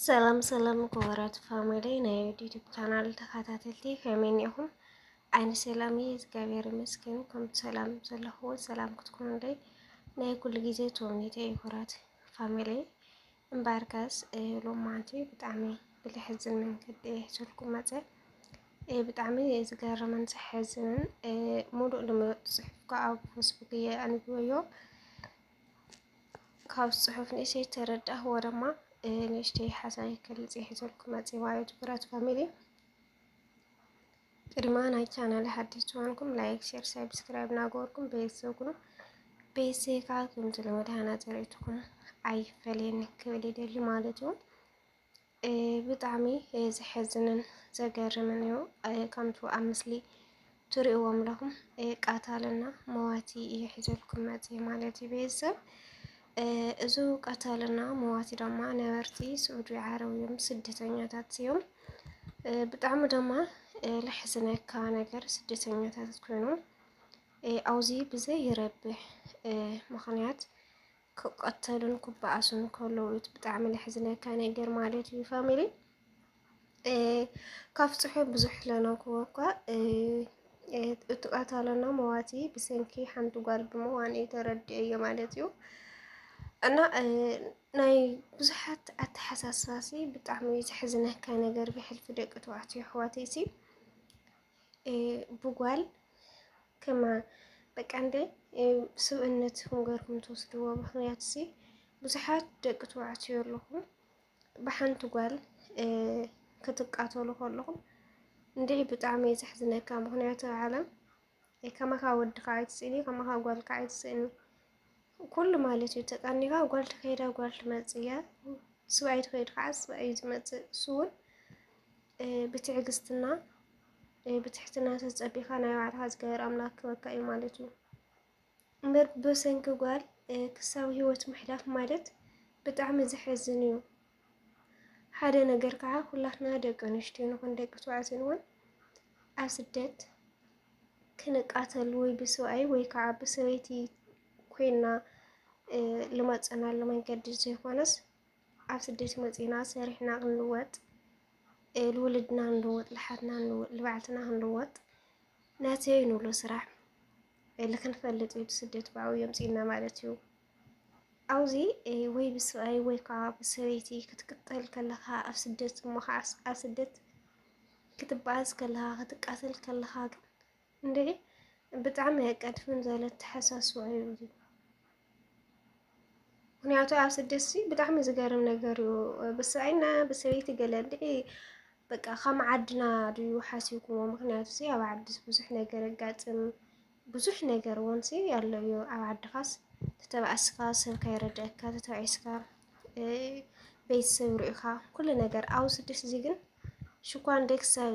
ሰላም ሰላም ክቡራት ፋሚሊ ናይ ዩቲዩብ ቻናል ተኸታተልቲ ከመይ እኒኹም? ኣነ ሰላም እየ እግዚኣብሔር ይመስገን። ከም ሰላም ዘለኹዎ ሰላም ክትኮኑለይ ናይ ኩሉ ግዜ ተወኒተ እዩ ክቡራት ፋሚሊ እምበኣርከስ ሎማንቲ ብጣዕሚ ብልሕዝን መንገዲ ሕዝልኩም መፀ ብጣዕሚ ዝገርምን ዘሕዝንን ሙሉእ ልሙሉእ ፅሑፍ ከዓ ኣብ ፌስቡክ እየ ኣንቢበዮ ካብዚ ፅሑፍ ንእሽተይ ዝተረዳእክዎ ድማ ንእሽተይ ሓሳብ ክገልፅ እየ ሒዘልኩም መፂ ማለት ብረት ፋሚሊ ቅድማ ናይ ቻናል ሓድሽ ዝኾንኩም ላይክ፣ ሼር፣ ሳብስክራይብ እናገበርኩም ቤተሰብ ኩኑ ቤተሰብ ከዓ ከምቲ ልመድ ሃናፂ ርእይትኹም ኣይፈለየኒ ክብል ይደሊ ማለት እዩ። ብጣዕሚ ዘሕዝንን ዘገርምን እዩ። ከምቱ ኣብ ምስሊ ትሪእዎ ኣለኹም ቀታልና መዋቲ እዩ ሒዘልኩም መፂኡ ማለት እዩ ቤተሰብ። እዚ ቀታልና መዋቲ ድማ ነበርቲ ስዑዲ ዓረብ እዮም፣ ስደተኛታት እዮም። ብጣዕሚ ድማ ለሕዝነካ ነገር ስደተኛታት ኮይኖም ኣብዚ ብዘይረብሕ ምኽንያት ክቀተሉን ክበኣሱን ከለዉ እዩ ብጣዕሚ ለሕዝነካ ነገር ማለት እዩ ፋሚሊ ካብ ፅሑ ብዙሕ ለነኩዎ እኳ እቲ ቀታለና መዋቲ ብሰንኪ ሓንቲ ጓል ብምዋን እዩ ተረድኤዮ ማለት እዩ እና ናይ ብዙሓት ኣተሓሳስባሲ ብጣዕሚ ዘሕዝነካ ነገር ብሕልፊ ደቂ ተባዕትዮ ኣሕዋተይሲ ብጓል ከማ በቃ እንደ ስብእነት ንገርኩም ትወስድዎ ምክንያት ሲ ብዙሓት ደቂ ተባዕትዮ ኣለኹም ብሓንቲ ጓል ክትቃተሉ ከለኹም እንዲዒ ብጣዕሚ እዩ ዘሕዝነካ። ምክንያቱ ዓለም ከማኻ ወድኻ ኣይትስእኒ፣ ከማኻ ጓልካ ኣይትስእኒ ኩሉ ማለት እዩ ተቀኒኻ ጓል ትኸይዳ ጓል ትመፅእ እያ፣ ስብኣይ ትኸይድ ከዓ ስብኣይ እዩ ዝመፅእ እሱ እውን ብትዕግስትና ብትሕትና ተጸቢኻ ናይ ባዕልኻ ዝገበር ኣምላክ ክበካ እዩ ማለት እዩ እምበር ብሰንኪ ጓል ክሳብ ህይወት ምሕላፍ ማለት ብጣዕሚ ዘሕዝን እዩ። ሓደ ነገር ከዓ ኩላትና ደቂ ኣንስትዮ ንኹን ደቂ ተባዕትዮ ንኹን ኣብ ስደት ክንቃተል ወይ ብሰብኣይ ወይ ከዓ ብሰበይቲ ኮይና ልመፀናሉ መንገዲ ዘይኮነስ ኣብ ስደት መፂእና ሰሪሕና ክንልወጥ ልውልድና ክንልወጥ ልሓትና ክንልወጥ ልባዕልና ክንልወጥ ነቲ ንብሎ ስራሕ ልክንፈልጥ እዩ ስደት ብኣው የምፂእና ማለት እዩ ኣብዚ ወይ ብስብኣይ ወይ ከዓ ብሰበይቲ ክትቅጠል ከለኻ ኣብ ስደት እሞ ከዓ ኣብ ስደት ክትበኣስ ከለኻ ክትቃተል ከለኻ ግን እንዴ ብጣዕሚ ኣየቃድፍን ዘለ ተሓሳስቦ እዩ እዚ ምክንያቱ ኣብ ስደሲ ብጣዕሚ ዝገርም ነገር እዩ ብሰይና ብሰበይቲ ገለ እንድዒ በቃ ከም ዓድና ድዩ ሓሲብኩዎ ምክንያቱ ሲ ኣብ ዓድስ ብዙሕ ነገር የጋጥም ብዙሕ ነገር እውን ሲ ኣሎ እዩ ኣብ ዓድኻስ ተተባእስካ ሰብ ካይረድአካ ተተባዒስካ ቤተሰብ ርኢኻ ኩሉ ነገር ኣብ ስደስ እዚ ግን ሽኳን ደክሰብ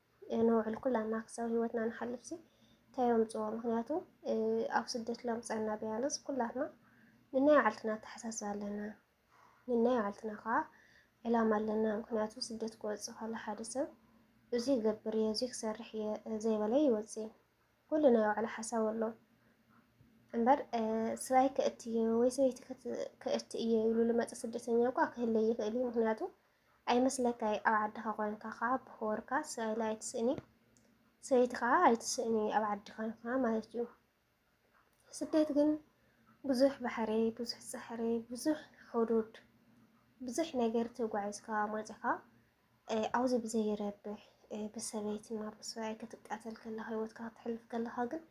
ነውዕል ኩላና ክሳብ ህይወትና ንሓልፍ ሲ እንታይ የምፅዎ ምክንያቱ ኣብ ስደት ለምፀና ቢያንስ ኩላትና ንናይ ባዕልትና ኣተሓሳስባ ኣለና ንናይ ባዕልትና ከዓ ዕላማ ኣለና ምክንያቱ ስደት ክወፅእ ከሎ ሓደ ሰብ እዚ ይገብር እየ እዚ ክሰርሕ እየ ዘይበለ ይወፅእ ኩሉ ናይ ባዕሉ ሓሳብ ኣሎ እምበር ስራይ ከእቲ እየ ወይ ሰበይቲ ከእቲ እየ ኢሉ ልመፀ ስደተኛ እኳ ክህለ ይኽእል እዩ ምክንያቱ ኣይመስለካይ ኣብ ዓድኻ ኮንካ ከኣ ብክቡርካ ሰብኣይ ኣይትስእኒ ሰበይቲ ከኣ ኣይትስእኒ ኣብ ዓዲ ኮንካ ማለት እዩ ስደት ግን ብዙሕ ባሕሪ ብዙሕ ጻሕሪ ብዙሕ ሕዱድ ብዙሕ ነገር ተጓዒዝካ መጺኻ ኣብዚ ብዘይረብሕ ብሰበይትና ብሰብኣይ ክትቃተል ከለኻ ህይወትካ ክትሕልፍ ከለኻ ግን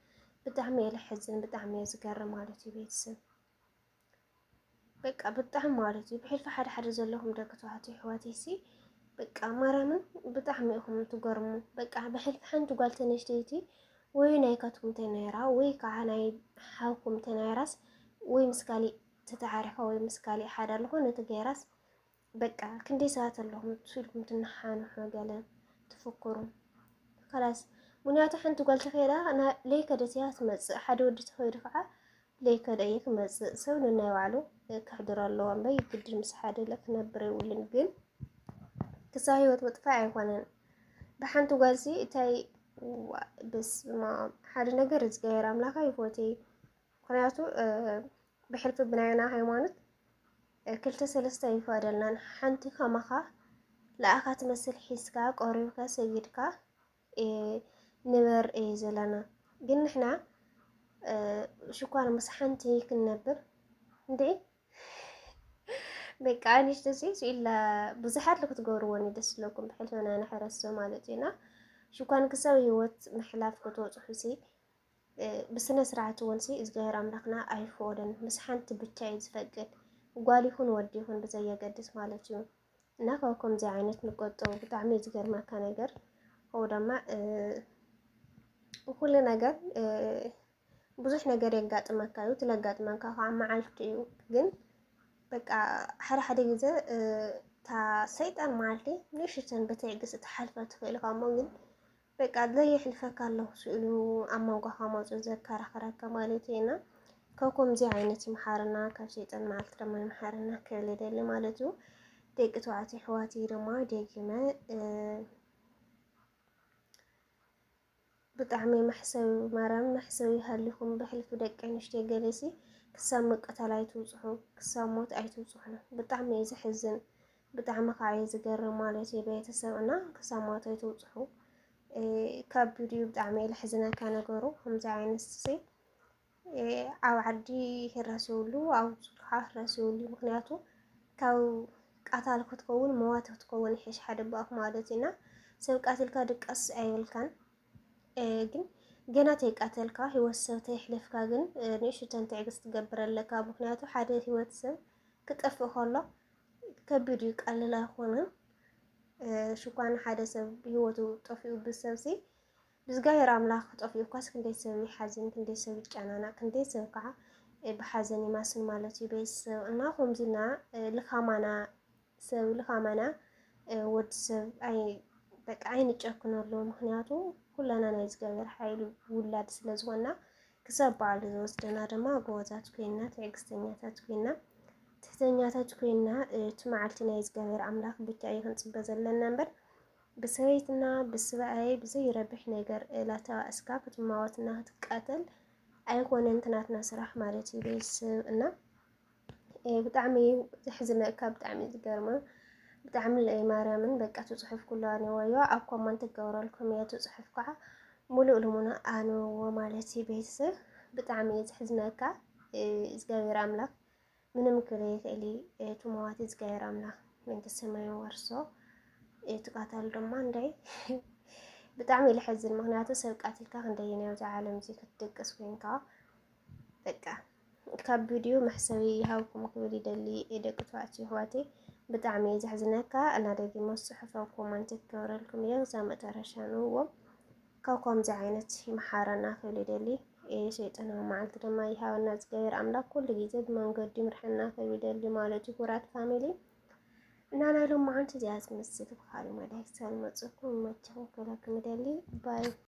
ብጣዕሚ እየ ልሕዝን ብጣዕሚ እየ ዝገርም ማለት እዩ ቤተሰብ በቃ ብጣዕሚ ማለት እዩ ብሕልፊ ሓደ ሓደ ዘለኹም ደቂ ተባዕትዮ ኣሕዋተይ ሲ በቃ ማርያምን ብጣዕሚ ኢኹም ትገርሙ። በቃ ብሕልፊ ሓንቲ ጓል ተነሽተይቲ ወይ ናይካትኩም ተናይራ ወይ ከዓ ናይ ሓውኩም ተናይራስ ወይ ምስ ካሊእ ተተዓሪኻ ወይ ምስ ካሊእ ሓዳር ዝኾነ ተገይራስ በቃ ክንደይ ሰባት ኣለኹም ኢልኩም ትነሓንሑ ገለ ትፍክሩ ካላስ ምክንያቱ ሓንቲ ጓል ተኸይዳ ለይከደት እያ ትመፅእ። ሓደ ወዲ ተኸይዱ ከዓ ለይከደ እዩ ክመፅእ። ሰብ ንናይ ባዕሉ ከሕድሮ ኣለዎ እምበይ ግድን ምስ ሓደ ክነብር የብሉን። ግን ክሳብ ህይወት ምጥፋእ ኣይኮነን። ብሓንቲ ጓል ሲ እታይ ብስማ ሓደ ነገር እግዚኣብሔር ኣምላኻ ይፎትይ ምክንያቱ ብሕልፊ ብናይ ኣና ሃይማኖት ክልተ ሰለስተ ኣይፈቀደልናን ሓንቲ ከማኻ ለኣኻ ትመስል ሒዝካ ቆሪብካ ሰጊድካ ንበር እየ ዘለና ግን ንሕና ሽኳር ምስ ሓንቲ ክንነብር እንዴ ደቂ ኣንሽቲ ሴሱ ኢላ ብዙሓት ክትገብርዎን ደስ ዝለኩም ብሕልፈና ንሕረሶ ማለት እዩና ሽኳን ክሳብ ሂወት ምሕላፍ ክትወፅሑ ሲ ብስነ ስርዓት እውን ሲ እግዚኣብሔር ኣምላኽና ኣይፍኦልን ምስ ሓንቲ ብቻ እዩ ዝፈቅድ ጓል ይኹን ወዲ ይኹን ብዘየገድስ ማለት እዩ እና ካብ ከምዚ ዓይነት ንቆጠቡ ብጣዕሚ እዩ ዝገርመካ ነገር ከምኡ ድማ ኩሉ ነገር ብዙሕ ነገር የጋጥመካ እዩ ትለጋጥመካ ከዓ መዓልቲ እዩ ግን በቃ ሓደ ሓደ ግዘ እታ ሰይጣን መዓልቲ ንእሽተን ብትዕግስቲ ትሓልፈ ትኽእል እሞ ግን በቃ ዘየሕልፈካ ኣለኹ ኢሉ ኣብ መንጎኻ መፁ ዘከራኽረካ ማለት እዩ እና ካብ ከምዚ ዓይነት ይምሓርና ካብ ሸይጣን መዓልቲ ድማ ይምሓርና ክብል ይደሊ ማለት እዩ ደቂ ተባዕትዮ ኣሕዋትይ ድማ ደጊመ ብጣዕሚ መሕሰዊ ማርያም መሕሰዊ ሃሊኹም ብሕልፊ ደቂ ኣንስትዮ ገለሲ ክሳብ መቀታል ኣይትውፅሑ ክሳብ ሞት ኣይትውፅሑ ብጣዕሚ እዩ ዘሕዝን ብጣዕሚ ከዓ እዩ ዝገርም ማለት እዩ ቤተሰብ እና ክሳብ ሞት ኣይትውፅሑ ከቢድ እዩ ብጣዕሚ እዩ ልሕዝነካ ነገሩ ከምዚ ዓይነት ሲ ኣብ ዓዲ ህረስ ይብሉ ኣብ ከዓ ህረስ ይብሉ ምክንያቱ ካብ ቃታል ክትከውን መዋት ክትከውን ይሕሽ ሓደ ባኣፍ ማለት እዩና ሰብ ቃትልካ ድቀስ ኣይብልካን ግን ገና ተይቃተልካ ህይወት ሰብ ተይሕለፍካ ግን ንእሽተን ትዕግስቲ ትገብር ኣለካ ምክንያቱ ሓደ ህይወት ሰብ ክጠፍእ ከሎ ከቢድ እዩ ቀልል ኣይኮነን ሽኳን ሓደ ሰብ ብሂወቱ ጠፊኡ ብሰብሲ ብዝጋሄር ኣምላኽ ጠፊኡ እኳስ ክንደይ ሰብ ይሓዝን ክንደይ ሰብ ይጨናናቅ ክንደይ ሰብ ከዓ ብሓዘን ይማስን ማለት እዩ ቤተሰብ እና ከምዚና ልካማና ሰብ ልካማና ወዲ ሰብ ኣይ በቃ ኣይንጨክነሉ ምክንያቱ ኩላና ናይ እግዚኣብሔር ሓይል ውላድ ስለዝኮና ክሳብ በዓሉ ዝወስደና ድማ ጎቦዛት ኮይንና ትዕግስተኛታት ኮይንና ትሕተኛታት ኮይንና እቲ መዓልቲ ናይ እግዚኣብሔር ኣምላኽ ብቻ እዩ ክንፅበ ዘለና እምበር ብሰበይትና ብስበኣይ ብዘይረብሕ ነገር ላተባእስካ ክትማወትና ክትቃተል ኣይኮነን ትናትና ስራሕ ማለት እዩ ቤተሰብ እና ብጣዕሚ እዩ ዘሕዝነካ ብጣዕሚ እዩ ዝገርማ ብጣዕሚ ለይ ማርያምን በቃ ትፅሑፍ ኩሉ ኣንወዮ ኣብ ኮመንት ክገብረልኩም እየ ትፅሑፍ ከዓ ሙሉእ ልሙና ኣንወዎ ማለት እዩ ቤተሰብ ብጣዕሚ እዩ ዘሕዝነካ እግዚኣብሔር ኣምላክ ምንም ክለ ይኽእል እዩ ትመዋት እግዚኣብሔር ኣምላክ መንግስተ ሰማይ ወርሶ ትቃታሉ ድማ እንዳይ ብጣዕሚ እዩ ልሕዝን ምክንያቱ ሰብ ቃትልካ ክንደይን ኣብዚ ዓለም እዚ ክትድቅስ ኮይንካ በቃ ካብ ቪድዮ መሕሰቢ ይሃብኩም ክብል ይደሊ ደቂ ተባዕትዮ ኣሕዋተይ ብጣዕሚ እየ ዘሕዝነካ እና ደጊመ ፅሑፍ ኣብ ኮመንት ክገብረልኩም እየ ክሳብ መጨረሻ ንእዎ ካብ ከምዚ ዓይነት ይምሓረና ክብል ይደሊ ሸይጣናዊ መዓልቲ ድማ ይሃበና እግዚኣብሔር ኣምላክ ኩሉ ግዜ ብመንገዱ ይምርሐና ክብል ይደሊ ማለት እዩ ኩራት ፋሚሊ እና ናይ ሎሚ መዓልቲ እዚኣ ዝመስል ብካልእ መዳይ ክሳብ ንመፅኩም ይመችኹም ክብለኩም ይደሊ ባይ